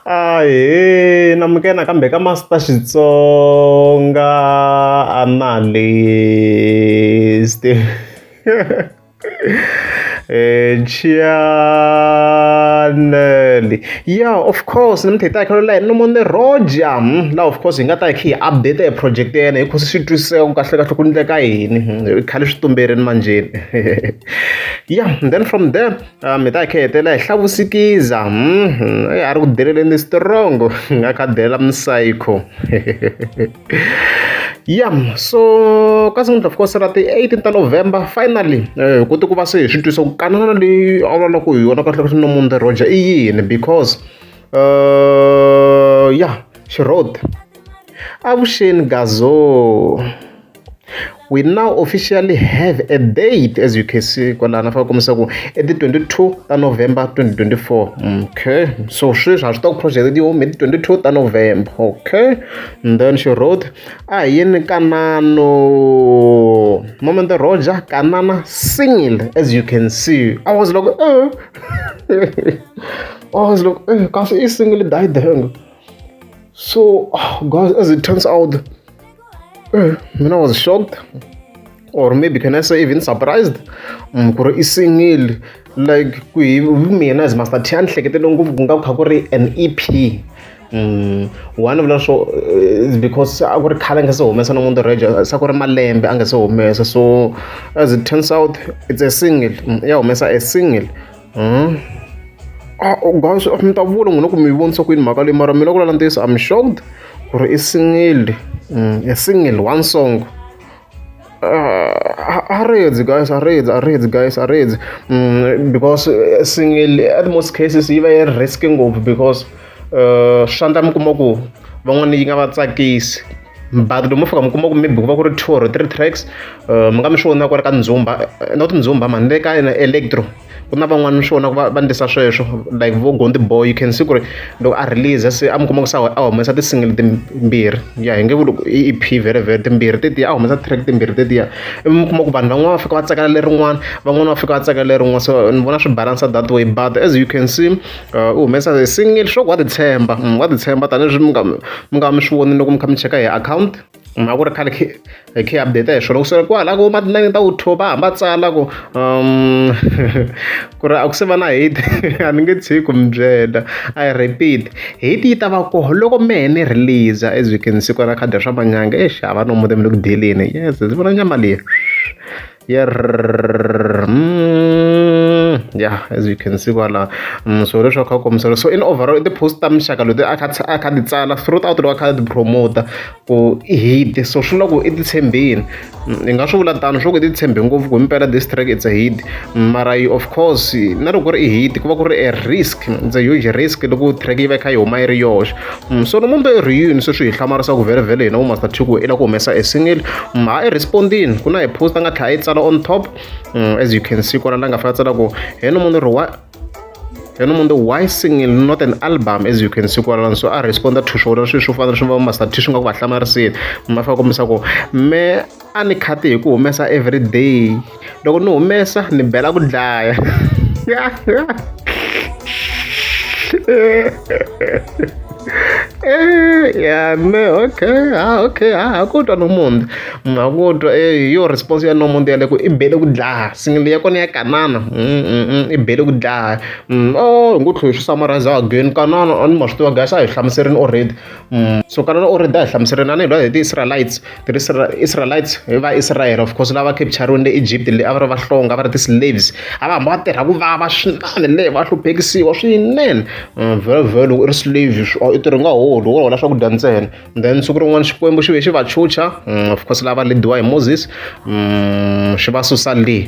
Ahee na muke nakambe ka Master Xitsonga analyst Chianelli yeah of course ni mi theta khalo la no mone roja hmm, la of course hi nga ta khi update e project ya yena hi khosi swi twisisa ku kahle kahle ku ndleka yini hmm, khale swi tumberini manjeni yeah then from there Ah, mi ta hi khetela hi hlavusikiza hmm, a ri ku deleleni strongo nga kha delela msayikho ya so ka siku ni ta fika se ra ti 18 ta november finally eh, ku ti ku va se hi swi twisa ku kanana leyi a vulavulaka hi yona kahle kahle nomunde roger i yini because uh, ya xirhoti avuxeni gazo we now officially have a date as you can see kwalaha na faka kombisa ku i ti 22 ta november 2024 okay so sweswi ha swi tiva ku project ti home hi ti 22 ta november okay and then she wrote a hi yini kanano moment roja kanana single as you can see i was like oh i was like oh kasi i single died so oh, guys as it turns out mm, mina was shocked or maybe can i say even surprised mm, ku ri i single like ku hi mina as master t a ni hleketele ngopfu ku nga ku kha ku ri an e p Mm. one vula swo eh, because a ku ri khale a nga se humesa no munhu reja sa ku ri malembe a nga se humesa so as it turns out it's a single mm, ya humesa a single Hmm? Ah, oh, guys, mi ta vula n'wina ku mi vonisa ku yini mhaka leyi mara mina ku lala ntiyiso I'm shocked ku ri i single mm, a single one song arreds guys arreds arreds guys arreds mm, because eh, single at most cases yi va yi risk ngopfu because uh, swi swa endla mi kuma ku van'wana yi nga va tsakisi but loko mi fika mi kuma ku maybe ku va ku ri two or three tracks uh, mi nga mi swi vona ku ri ka ndzumba eh, not ndzumba mani le ka electro ku na van'wana mi swi vona ku va ndlisa sweswo like vo gondi boy you can see ku ri loko a release se a mi kuma ku sa a humesa ti-single timbirhi ya hi nge ku loko i ep very very timbirhi tetiya a humesa track timbirhi tetiya ivi mi kuma ku vanhu van'wana va fika va tsakela lerin'wana van'wana va fika va tsakela lerin'wana so ni vona swi balansa that way but as you can see u humesa e single leswaku wa titshemba wa titshemba tanihileswi mi nga mi nga mi swi vonile loko mi kha mi cheka hi akhawunti mhaka ku ri khale khi hi khi update hi swona ku sele kwala ku ma tinayini ta utho va hamba tsala ku um ku ri a ku se va na hate a ni nge tshiki ku mi byela i repeat hate yi ta va koho loko mehe ni release as you can see kwala khadi ra swa manyanga exi hava nomu te mi le ku dyeleni yes ndzi vona nyama leyi. yeah as you can see kwala mm, so leswi kha kombisela so in overall i ti-post ta mixaka leti a kha ti tsala throughout loko a kha ti promota ku i hit so swi loko i ti tshembeni mm, i nga swi vula tano swi loko i ti tshembe ngopfu ku impela this track it's a hit mm, mara yi of course na loko ku ri i hit ku va ku ri a risk it's a huge risk loko track yi va yi kha yi huma yi ri yoxe Mm, so nomumbe i ri yini sweswi hi hlamarisa ku vherevhele hina vumaster tiku i la ku humesa e single mm, ha i respondini ku na hi post a nga tlhela yi tsala on top mm, as you can see kwala la nga fika tsala ku heno munhu ri wa heno munhu why single not an album as you can see kwalano so a responda to swona sweswi u fanele swi va master t swi nga ku va hlamarisile ma fika kombisa ku me a ni khati hi ku humesa everyday loko ni humesa ni bela ku dlaya Eh, ya me okay ha ah, okay ha ah, ha ku twa nomunti mna ku twa eh, yo response ya nomunti yale ku i bele ku dlaha singili ya kona ya kanana mm, mm, mm, i bele ku dlaha o oh, hi ngo tlhela hi swi summarize again kanana a ni ma swi tiva guys a hi hlamuserini already Mm. so kana u ri da hi hlamusela na lwa hi ti-israelites ti-israelites hi va israel of course lava capturini le egypt le a va ri vahlonga va ri ti-slaves a va hamba va tirha ku vava swinene le va hluphekisiwa swinene mm, very very loko i ri slave i tirhi nga holi wo hola swakudya ntsena then siku rin'wana xikwembu xi ve xi va chucha mm, of course lava lediwa hi moses xi va susa le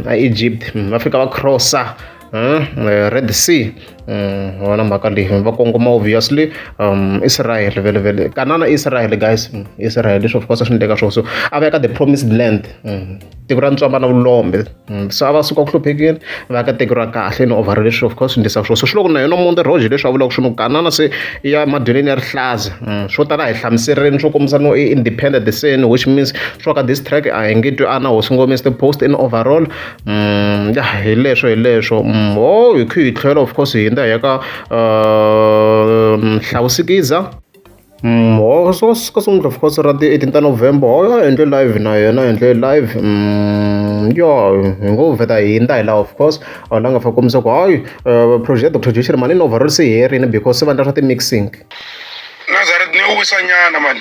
a egypt va fika va crossa Hmm, eh, red sea hmm, wona mhaka leyi va kongoma obviously um israel vele vele kanana israel guys hmm, israel leswi of course swi ndleka swo so a va ya ka the promised land tiko ra ntswamba na vulombe so a va suka ku hluphekile va ya ka tiko ra kahle ni ovhara leswi of course swi ndlisa swo so swi loko na yona monde roge leswi a vulaka swi no kanana se ya madyeleni ya rihlaza swo tala hi hlamuserini swo kombisa no i independent the sin which means swo ka this track a hi nge twi ana hosi ngomese the post in overall Mm, ya hi leswo hi leswo mm, ho oh, hi khe hi tlhela of course hi hindza hi ya ka uh, mm, hlawusikiza ho so ka sungula of course ra ti eighteen ta november ho ya endle live na yena endle live yo hi ngo vheta hi hindza hi laha of course a la nga fa kombisa ku hayi uh, project dr joshir mani ni overall se herini because se vandla swa ti-mixing nazareth ni wisanyana mani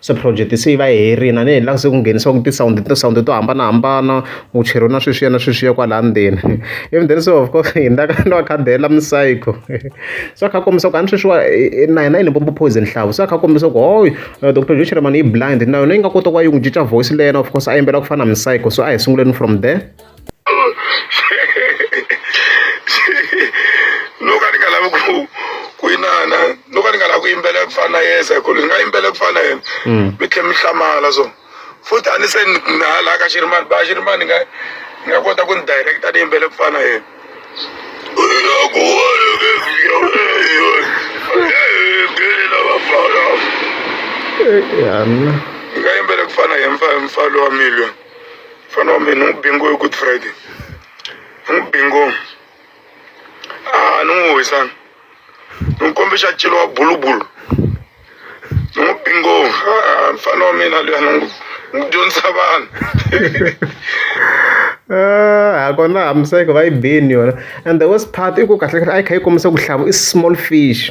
Se project se yi va yi herile a ni ha se ku nghenisiwa ku ti-sound ti-sound to hambanahambana ku cheriwa na sweswiya na sweswiya kwalaya ndzeni ivi then se of course hina ka ni va khadela mi-psycho se a kha a kombisa ku a ni sweswiwa na hina hi Limpopo Poison nhlavo se a kha a kombisa ku hooy doctor Joe Shirimani i blind na yona yi nga kota ku va yi n'wi cinca voice leyi yena of course a yimbela ku fana na mi-psycho so a hi sunguleni from there. no ka ni nga lavi ku ku inana no ka ni nga lavi ku yimbelela ku fana na yesa ku ni nga yimbelela ku fana na yena mm. mi tlhe mi hlamala so futhi a ni se na laha ka xirimani ba xirimani ni nga ni nga kota ku ni directa ni yimbelela ku fana na yena Yeah, I'm... Kaya yung pinagpanayan, fan, follow a million. fana o min n'u binko ye good friday n'u binko aa n'u y'o ye san n'u kɔnpesa cilo bulu bulu n'u binko aa fana o min na dɛ n'u don saban a ko na hamiseka va yi bini yona and the worst part i ku kahlekahle a yi kha yi kombisa ku hlavu i small fish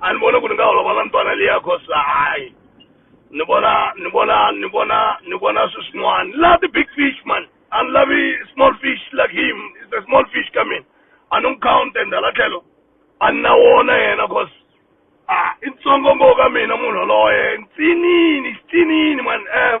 a ni vona ku ni nga holova na ntwana liya cause hayi ni vona ni vona ni vona ni vona swi swin'wana la the big fish man a ni lavi small fish like him is the small fish ka mina a ni n'wi count and hala tlhelo a ni na wona yena cause a i ntsongo ngo ka mina munhu yaloye ntsinini xitsinini man um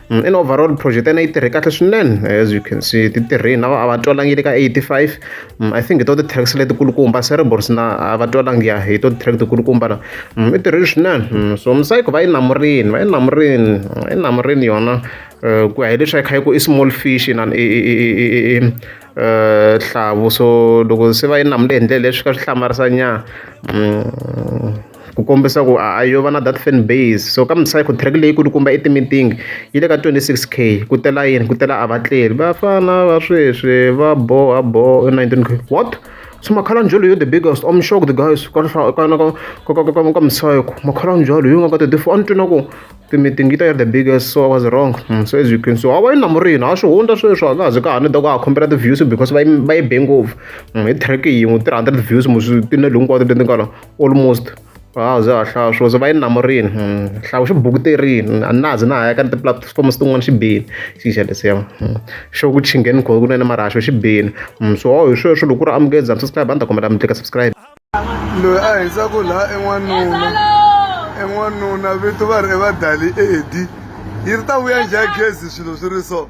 in overall project ena yi tirhe kahle swinene as you can see ti tirhe na a va twalangile ka 85 mm, i think hi to ti-tracks letikulukumba cerebrals na a va twalangi ya hi to ti-track tikulukumba na mm, i tirhile swinene mm, so msayiko va yi namurini va yi namurini yi namurini yona eh, ku ya hi leswi a yi kha yi ku i small fish na eh, hlavu so loko se va yi namule hi ndlela leswi ka swi hlamarisa nyana ku kombisa ku a yo va na that fan base so ka msayiko track leyi kulukumba i ti-meeting yi le ka twenty six k ku tela yini ku tela a va tleri vafana va sweswi va boha boho i nineteen k what so makhalanjholo yo the biggest om shock the guys ka msayiko makhalanjholo yo nga ka twenty four a ni twi na ku ti-meeting yi ta yi ri the biggest so i was wrong mm, so as you can so a va yi na murina a swi hundza sweswi a ka ha zi ka ha ni ta ku a khombela ti-views because va yi va yi be ngopfu mm, hi track yin'we three hundred views moswi tinelo hinkwato leti nga la almost a ze a hlaya swo ze va yi namurini hmm, hlawu xi bukuterini a na ze na ha ya ka ni tipulatifomo tin'wana xi bini xixa lesiya hmm, xo ku chingeni kho kunene marhaxo xi bini hmm, so hi sweswo loko ku ri amukele za mi subscribe a ni ta kombela mi tlika subscribe loyi a hindzaku laha i n'wanuna i n'wanuna vito va ri i vadali edi yi ri ta vuya njhani gezi swilo swi ri so